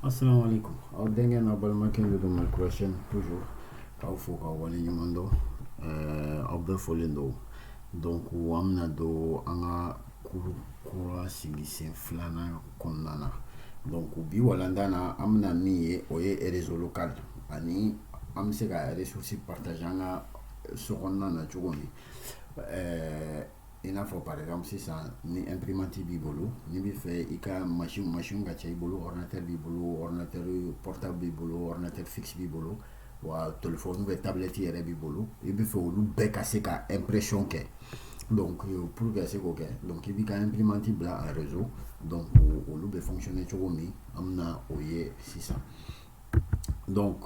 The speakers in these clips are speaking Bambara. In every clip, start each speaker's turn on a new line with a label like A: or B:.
A: Assalamu alaikum. Aw denkɛ n'aw balimakɛ de don Mali kura chaîne toujours k'aw fo k'aw wale ɲuman dɔn eh, aw bɛɛ fɔlen don donc an bɛna don an ka cours kura sigi sen filanan kɔnɔna na donc bi walanda na an bɛna min ye o ye réseau local ani an bɛ se ka ressources partager an ka so kɔnɔna na cogo min eh, i n'a fɔ par exemple sisan ni imprimante b'i bolo n'i bɛ fɛ i ka machine machine ka ca i bolo ordinateur b'i bolo ordinateur portable b'i bolo ordinateur fixe b'i bolo wa téléphone ou bien tablette yɛrɛ b'i bolo i bɛ fɛ olu bɛɛ ka se ka impression kɛ donc euh, pour ka se k'o kɛ donc i b'i ka imprimante bila en réseau donc olu bɛ fonctionner cogo min an bɛna o ye sisan donc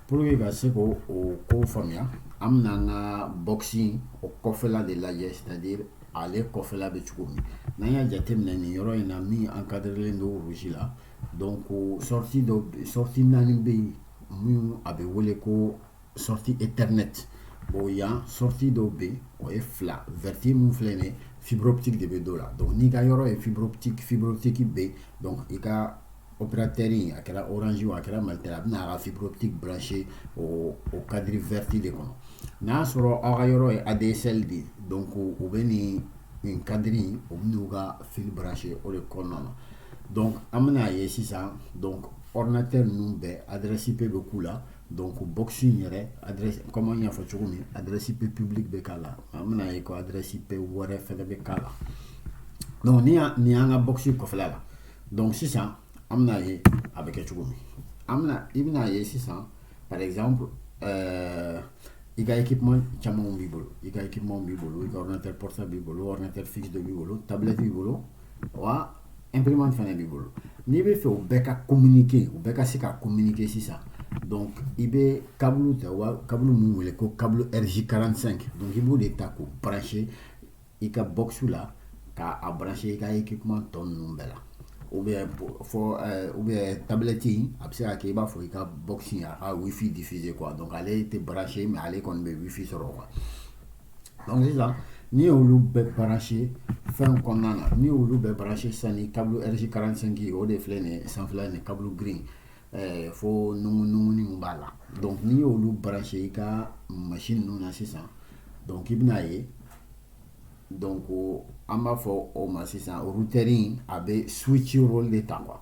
A: pour que ka se k'o o ko faamuya an bɛna an ka box in o kɔfɛla de lajɛ c'est à dire ale kɔfɛla bɛ cogo min n'an y'a jateminɛ nin yɔrɔ in na min encadrelen don rouge la donc sortie dɔ sortie naani bɛ yen min a bɛ wele ko sortie ethernet o yan sortie dɔ bɛ yen o ye fila vert min filɛ nin ye fibre optique de bɛ don o la donc n'i ka yɔrɔ ye fibre optique fibre optique bɛ yen donc i ka opérateur a kɛra orange a kɛra Malitel a bɛna a ka fibre optique brancher o o cadre vert de kɔnɔ n'a y'a sɔrɔ aw ka yɔrɔ ye ADSL de ye donc o bɛ nin nin cadre in u bɛn'u ka fil brancher o de kɔnɔna na donc an bɛna a ye sisan donc ordinateur ninnu bɛɛ adresse IP bɛ k'u la Don ko bo in yɛrɛ kɔma ɲɛfɔ cogo min a dɛrɛsi pe ppbili bɛ k'a la an bɛna ye ko a dɛrɛsi pe wɔɔrɛ fɛ bɛ k'a la dɔnku ni nin y'an ka bo in kɔfɛ la dɔnku sisan an bɛna ye a bɛ kɛ cogo min an i bɛna ye sisan paz ɛɛ i ka ekip caman b'i bolo i ka ekip b'i bolo i tɛ psa b'i bolo tɛ fi dɔ b'i bolo tabiti b'i bolo wa imprimante fana b'i bolo n'i bɛ fɛ u bɛɛ ka communiquer u bɛɛ ka se ka communiquer sisan donc i bɛ câble ta wa câble min wele ko câble RJ45 donc i b'o de ta k'o brancher i ka box la ka a brancher i ka équipement tɔ ninnu bɛɛ la ou bien fɔ euh, ou bien tablette in a bɛ se ka kɛ i b'a fɔ i ka box in a ka wifi diffuser quoi donc ale tɛ brancher mais ale kɔni bɛ wifi sɔrɔ quoi donc sisan n'i y'olu bɛɛ brancher fɛn kɔnɔna na n'i y'olu bɛɛ brancher sisan ni câble RJ45 ye o de filɛ nin ye sanfɛla nin câble gris in eh, fo nungununguni min b'a la donc n'i y'olu brancher i ka machine ninnu na sisan donc i bɛna ye donc an b'a fɔ o ma sisan routeur in a bɛ switch rôle de ta quoi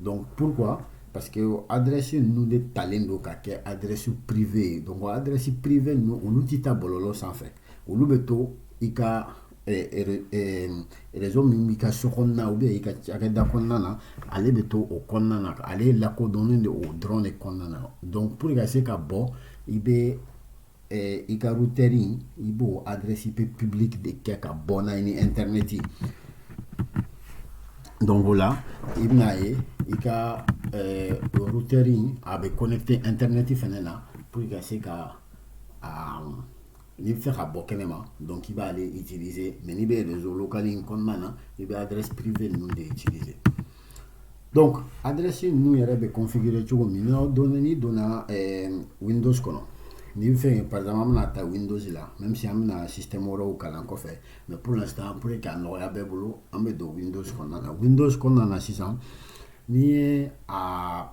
A: Donc pourquoi parce que adresse ninnu de talen don ka kɛ adresse privée ye donc adresse privée ninnu olu tɛ taa bɔlɔlɔ sanfɛ olu bɛ to i ka eh, eh, eh, réseau min b'i ka so kɔnɔna ou bien i ka cakɛda kɔnɔna na ale bɛ to o kɔnɔna na ale lakodɔnnen de o dɔrɔn de kɔnɔna na donc pour i ka se ka bɔ i bɛ eh, i ka routeur in i b'o adresse IP publique de kɛ ka bɔ n'a ye ni internet ye donc o la i bɛna ye i ka eh, routeur in a bɛ connecté internet fɛnɛ na pour que i ka se ka ah, n'i bɛ fɛ ka bɔ kɛnɛ ma donc i b'ale utiliser mais n'i bɛ réseau local in kɔnɔna na i bɛ adresse privée ninnu de utiliser donc adresse ninnu yɛrɛ bɛ configuré cogo min donc n'i donna eh, windows kɔnɔ n'i bɛ fɛ par exemple an bɛna ta windows là même si an bɛna système wɛrɛw kalan kɔfɛ mais pour l'instant pour que a nɔgɔya bɛɛ bolo an bɛ don windows kɔnɔna na windows kɔnɔna na sisan n'i y'a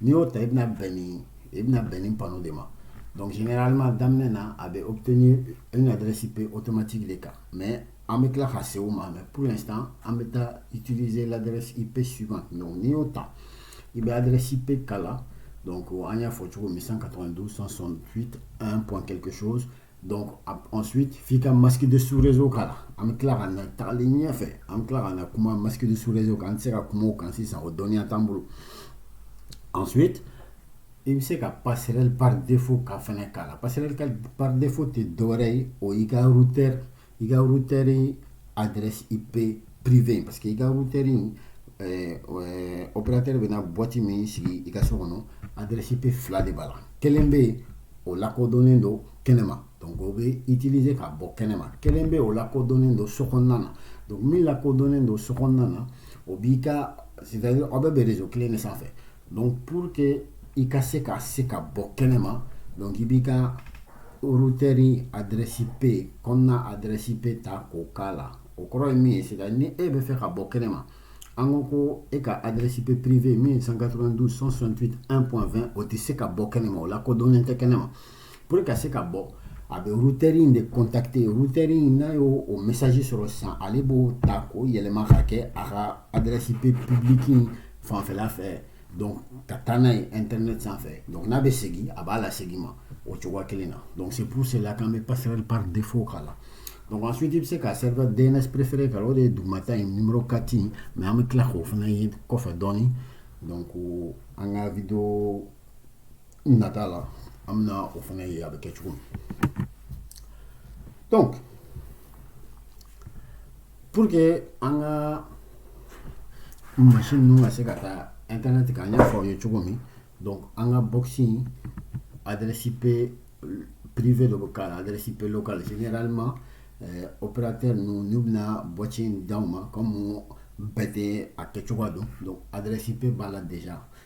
A: n'i y'o ta i bɛna bɛn ni i bɛna bɛn nin panneau de ma donc généralement daminɛ na a bɛ obtenir une adresse IP automatique de kan mais an bɛ tila ka se o ma mais pour l'instant an bɛ taa utiliser l'adresse IP suivante donc n'i y'o ta i bɛ adresse IP k'a la donc an y'a fɔ cogo min 192 168 1 point quelque chose donc ensuite f'i ka masque de sous réseau k'a la an bɛ tila ka na tagali ɲɛfɛ an bɛ tila ka na kuma masque de sous réseau kan an tɛ se ka kuma o kan sisan o dɔnniya t'an bolo ensuite i bɛ se ka passerelle par défaut ka fɛnɛ k'a la passerelle par défaut tɛ dɔwɛrɛ ye o y'i ka routeur i ka routeur adresse IP privé parce que i ka routeur in eh, eh, opérateur bɛna boîte min sigi i ka so kɔnɔ adresse IP fila de b'a la kelen bɛ yen o lakodɔnnen don kɛnɛma donc o bɛ utiliser ka bɔ kɛnɛma kelen bɛ o lakodɔnnen don so kɔnɔna na donc min lakodɔnnen don so kɔnɔna na o b'i ka c'est-à-dire aw bɛɛ bɛ réseau kelen de sanfɛ Donc pour que i ka se ka se ka bɔ kɛnɛ ma donc i b'i ka routeur adresse IP kɔnɔna adresse IP ta k'o k'a la o kɔrɔ ye min ye c'est-à-dire ni e bɛ fɛ ka bɔ kɛnɛ ma an ko ko e ka adresse IP privé min ye 192 168 1.20 o tɛ se ka bɔ kɛnɛ ma o lakodɔnnen tɛ kɛnɛ ma Pour ka se ka bɔ a bɛ routeur in de contacter routeur in n'a y'o o message sɔrɔ sisan ale b'o ta k'o yɛlɛma ka kɛ a ka adresse IP publique in fanfɛla fɛ donc ka taa n'a ye internet sanfɛ donc n'a bɛ segin a b'a lasegin ma o cogoya kelen na donc c'est pour cela k'an bɛ passerelle par défaut k'a la donc ensuite i bɛ se ka serveur DNS préféré k'a la o de ye dugumata in numéro 4 in mais an bɛ tila k'o fana ye kɔfɛ dɔɔnin donc an ka vidéo nata la an bɛna o fana ye a bɛ kɛ cogo min donc pour que an ka machine ninnu ka se ka taa internet kan an y'a fɔ aw ye cogo min donc an ka box adresse IP privé dɔ bɛ k'a la adresse IP locale généralement euh, opérateur ninnu n'u bɛna box in d'aw ma comme bɛɛ tɛ a kɛcogoya dɔn donc adresse IP b'a la déjà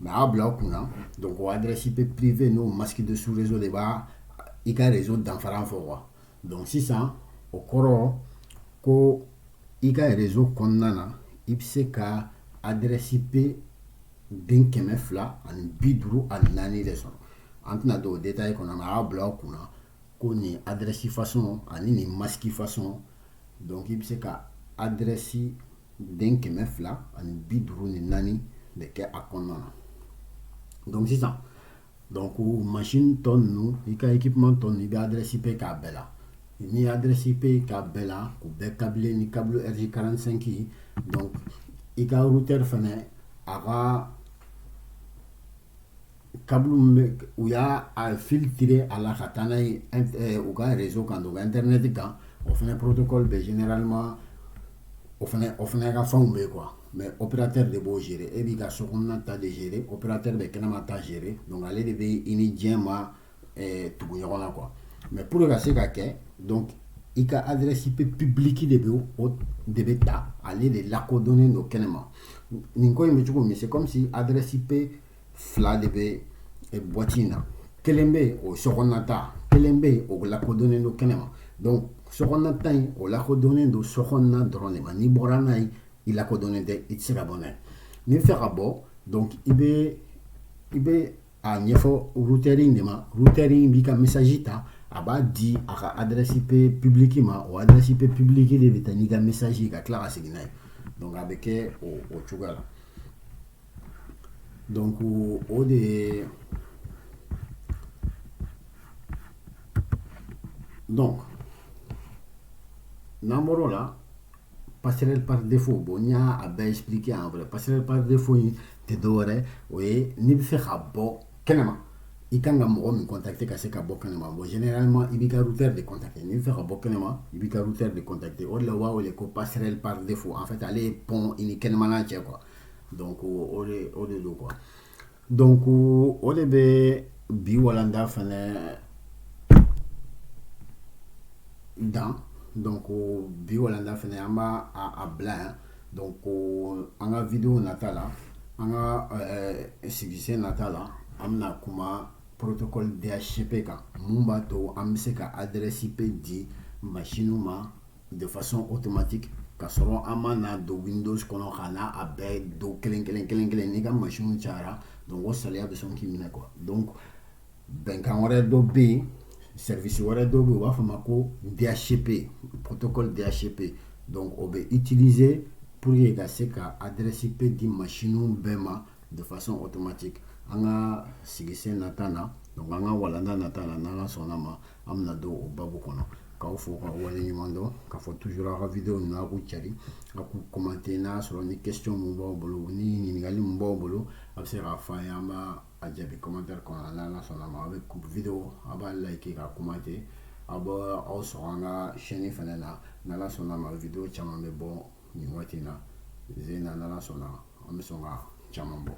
A: mais a y'a bila aw kun na donc o adresse IP privé n'o masque de sous réseau de b'a i ka réseau danfara fɔ quoi donc sisan o kɔrɔ ko i ka réseau kɔnɔna na i bɛ se ka adresse IP den kɛmɛ fila ani bi duuru ani naani de sɔrɔ an tɛna don o détail kɔnɔ mais a y'a bila aw kun na ko nin adresse façon ani nin masque façon donc i bɛ se ka adresse den kɛmɛ fila ani bi duuru ni naani de kɛ a kɔnɔna na donc sisan donc machine tɔ ninnu i ka équipement tɔ ninnu i bɛ adresse IP k'a bɛɛ la n'i ye adresse IP k'a bɛɛ la k'u bɛɛ câbler ni câble RJ45 ye donc i ka routeur fana a ka câble min bɛ u y'a a fil tiré a la ka taa n'a ye eh, u ka réseau kan donc internet kan o fana protocole bɛ généralement o fana o fana ka fɛnw bɛ quoi mais opérateur de b'o gérer e b'i ka so kɔnɔna ta de gérer opérateur bɛ kɛnɛma ta gérer donc ale de bɛ i ni diɲɛ ma eh, tugu ɲɔgɔn na quoi mais pour que ka se ka kɛ donc i ka adresse IP publique de bɛ o de bɛ taa ale de lakodɔnnen don kɛnɛma nin ko in bɛ cogo min c'est comme si adresse IP fila de bɛ eh, boîte in na kelen bɛ yen o sokɔnɔna ta kelen bɛ yen o lakodɔnnen don kɛnɛma donc sokɔnɔna ta in o lakodɔnnen don sokɔnɔna dɔrɔn de ma n'i bɔra n'a ye i lakodɔnnen tɛ i tɛ se ka bɔ n'a ye n'i bɛ fɛ ka bɔ donc i bɛ i bɛ a ɲɛfɔ routeur in de ma routeur in b'i ka message ta a b'a di a ka adresse IP publique ma o adresse IP publique de bɛ taa n'i ka message ye ka tila ka segin n'a ye donc a bɛ kɛ o o cogoya la donc o de ye donc n'an bɔr'o la passerelle par défaut bon n y'a a bɛɛ expliqué en vrai passerelle par défaut in tɛ dɔwɛrɛ o ye n'i bɛ fɛ ka bɔ kɛnɛma i kan ka mɔgɔ min contacter ka se ka bɔ kɛnɛma bon généralement i b'i ka routeur de contacter n'i bɛ fɛ ka bɔ kɛnɛma i b'i ka routeur de contacter o de la u b'a wele ko passerelle par défaut en fait ale ye pont i ni kɛnɛmana cɛ quoi donc o de o de don quoi Donc o de bɛ bi walanda fɛnɛ dan donc bi walanda fɛnɛ an b' a bila yan donc an ka vidéo nata la an ka sigi sen nata la an bɛna kuma protocole DHCP kan mun b'a to an bɛ se ka adresse IP di machinew ma de façon automatique ka sɔrɔ an ma na don windows kɔnɔ ka na a bɛɛ don kelen kelen kelen kelen n'i ka machine cayara donc o saliya bɛ sɔn k'i minɛ quoi donc bɛnkan wɛrɛ dɔ bɛ yen service wɛrɛ dɔ bɛ yen u b'a fɔ ma ko DHCP protocole DHCP donc o bɛ utiliser pour que ka se ka adresse IP di machine bɛɛ ma de façon automatique an ka sigi sen nata na donc an ka walanda nata na n'ala sɔnna ma an bɛna don o babu kɔnɔ k'aw fo ka wale ɲuman dɔn k'a fɔ toujours aw ka vidéo ninnu a k'u cari a k'u commenter n'a y'a sɔrɔ ni question mun b'aw bolo ni ɲininkali mun b'aw bolo a bɛ se k'a fɔ an ye an b'a a jaabi commentaire kɔnɔ a n'ala sɔnna ma a bɛ vidéo a b'a like k'a commenter a bɛ aw sɔrɔ an ka chaîne fɛnɛ na n'ala sɔnna ma vidéo caman bɛ bɔ nin waati in na zen na n'ala sɔnna an bɛ sɔn ka caman bɔ